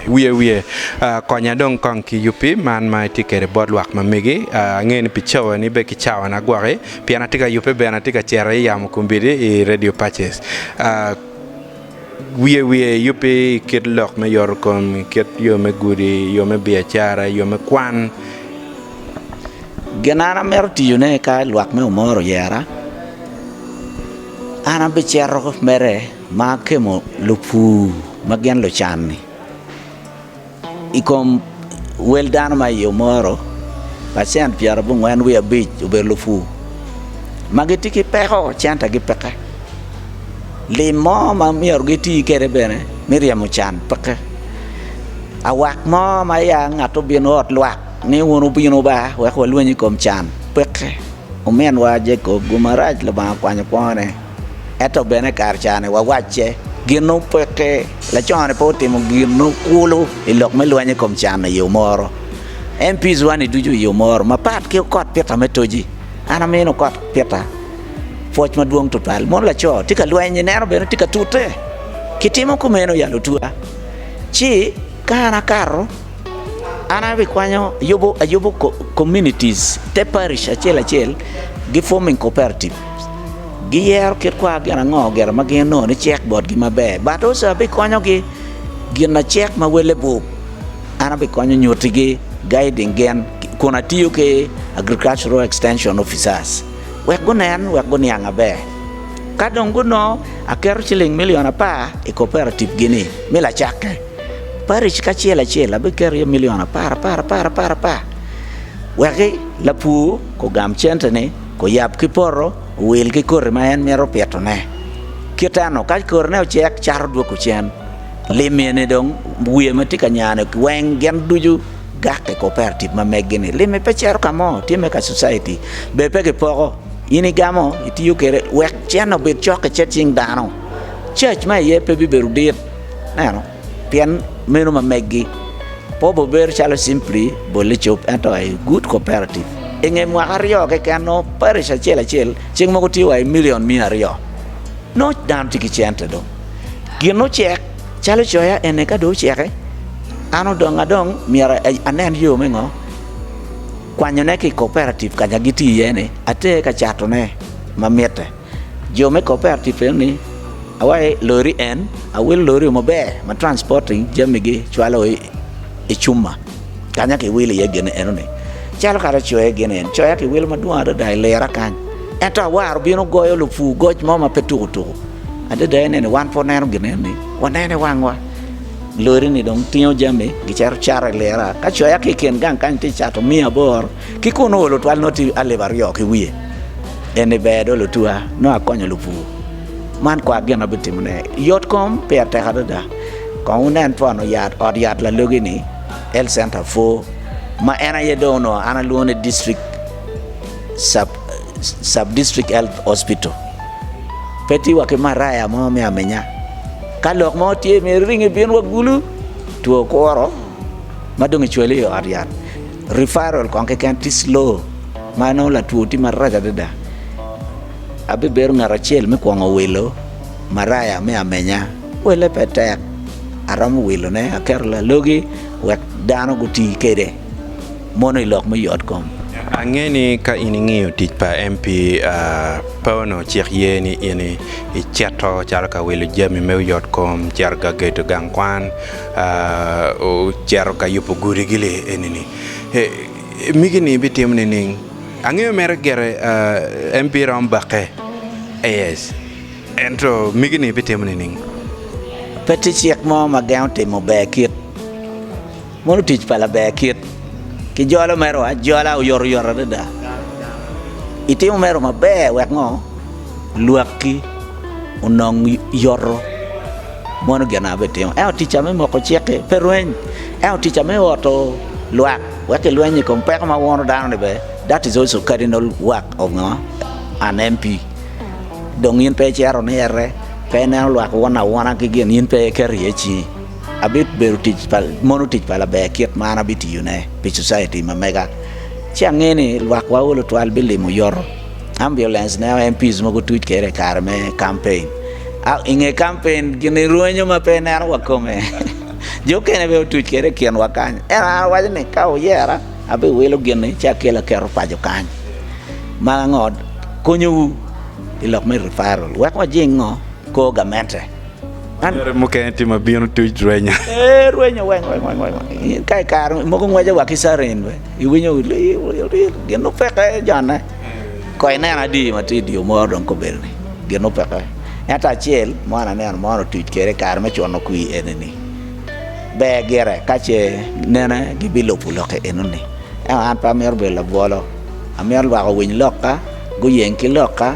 Wiye wiye, konya dong kong ki yubbi man ma itye kede bot lwak ma megi. Angeyo ni pi cawa ni be ki cawa na gwaki pien atye ka yubbe bene atye ka cere i yamo kombidi i radio paces. Wiye wiye yubbi i kit lok me yoto kom, i kit yo me gudi, yo me biacara, yo me kwan. Gin an amito tiyo ne ka lwak me omoro oyera, an abicito mere. Ma kemo lupur ma gin lucan-ni i kom wel dano ma i Omoro, pacent pyerabongwen wiye abic obedo lupur ma gitye ki peko centagi peke. Lim mo ma myero giti kwede bene me ryemo can peke. Awak mo ma ya ngat obino ot lwak ni wun wubino ba wek walweny i kom can peke. Ominwa Jacob, gumarac Lubanga okwanyo kwone. Ento bene kare cani wawacce, ginno peke, laconi pe otimo ginno kulu i lok me lweny i kom can i yo moro. MPs wani ducu i yo moro mapat ki okot pita me toji. An amino okot pita pwoc madwong tutwal. Mon laco tye ka lweny ni neno bene tye ka tute. Kitimo kumeno yalo otwa. Ci ka an akato. An abikwanyo ayubo communities te parish acel acel gi forming cooperative giyero kit kwar gin ango gire ma gin onongo ni cek botgi maber but also abikonyogi gin lacek ma wele bwub an abikonyo nyutigi guiding gin kun atiyo ki agricultural extension officers wek gunen wek guniang maber ka dong gunongo aketo ciling milion apar i cooperative gini me lacakke. Paric kacel acel abiketo iye milion apar apar apar apar apar, wekki lapur ogam cente ni oyab ki poto owil ki koti ma en mito pito ne, kit eno ka koti ne ocek cat odwogo cen, lim eni dong wiye ma tye ka nyane weng gin ducu gak i cooperative ma megi ni limi pe cito ka mo tye me ka society be pe gipoko in igamo itiyo kwede wek cen obed cok i cing dano, cac ma iye pe bibedo dit. Ineno? Pien meno ma meggi. Pe obibedo calo simply bolle cob, ento a good cooperative. I nge mwaka aryo keken, nongo parish acel acel cik mogo tye wa i milion miya aryo. Nongo dano tye ki cente dong. Gin ocek, calo coya eni ka dong oceke, an odonga dong myero anen yo me ngo? Kwanyone ki i cooperative kanya gitye iye-ni, ater ka catone ma mitte. Jo me cooperative eno ni awaye lori en awil lori o maber ma transporting jami gi cwalo i cuma kanya ki wilo iye gin eno ni calo kare coya gin eni coya ki wilo madwong adada i lera kany ento awaro bino goyo lupu goc mo ma pe tuku tuku adada ene ni wan pe waneno gin eno ni waneno i wang wa lori ni dong tingo jami gicito cato i lera ka coya ki i kin gang kany tye cato miya aboro Ki kun oolo twal nongo tye alip aryo ki wiye. En ni ber do lutua nongo akonyo lupur. Man kwar gin abitimone. Yot kom peya tek adada. Kong wunen pono yat ot yat lalogi ni Health Center four ma en aye dong onongo an alwongo ni District sub sub district health hospital. Pe tye wa ki maraya mo me aminya. Ka lok mo tye myero iring ibin wa gulu two kuro ma dong icwale i ot yat. Referral kong keken tye slow ma nongo latwo tye marac adada. Abibedo ngat acel me kwongo wilo maraya me amenya. Welle pe tek, aromo wilone aketo lalogi wek dano guti kwede mono i lok me yotkom. Ange ni ka in ingiyo tic pa MP Pono cik ye ni in icito calo ka wilo jami me yotkom, cito gagedo gang kwan, Ocito ka yubo gudi-gi li enini. Migi-ni bitimo nining? Angeyo mere gire en biromo bakke. Yes. Ento migi-ni bitimo nining? Pe tye cik mo ma gengo timo ber kit. Mono tic pa laber kit. Kijolo merowa ajola oyotoyot adada. Itimo mero maber wek ngo? lwakki onong yoto mono gin na bitimo. Ento ticca me moko cik-ki pe rweny, ento ticca me oto lwak wek kilweny i kom peko ma wono dano-ni bene, that is also cardinal work of ngo? an MP. Dong in pe icito ni ete, pe ineno lwak won awona ki gin, in pe iketo iye cingi. Abibedo tic pa, mono tic pa laber kit ma an abitiyone pi Cociti ma mega, ci ange ni lwakwa olo twal bilimo yoto. Ambulance ne MPs mogo tuc kede i kare me campaign. I nge campaign gini rwenyo ma pe ineno wa kome. Jo okene be otuc kede i kin wa kany. En an waco ni ka uyera abi wilo gini ci akela keto paco kany. Ma ango konyo wu i lok me referral wek wajing ngo kor gamente. Anyere mukene tye ma bino tuc rwenya. Ee, rwenyo weng weng weng weng. Ka i kare mogo ngwece wa ki carin be. Iwinyo lir lir lir. Gin nu peke jone. Ko ineno adi ma tye i dyo moro dong kobedo ni gin nu peke. Ento acel mo an aneno mon otuc kede i kare me cuno kwi eni ni, ber gire ka ce nene gibilupu lokke eno ni. Ento an pe amito bedo labwolo. Amito lwak owiny lokka, guyeng ki lokka.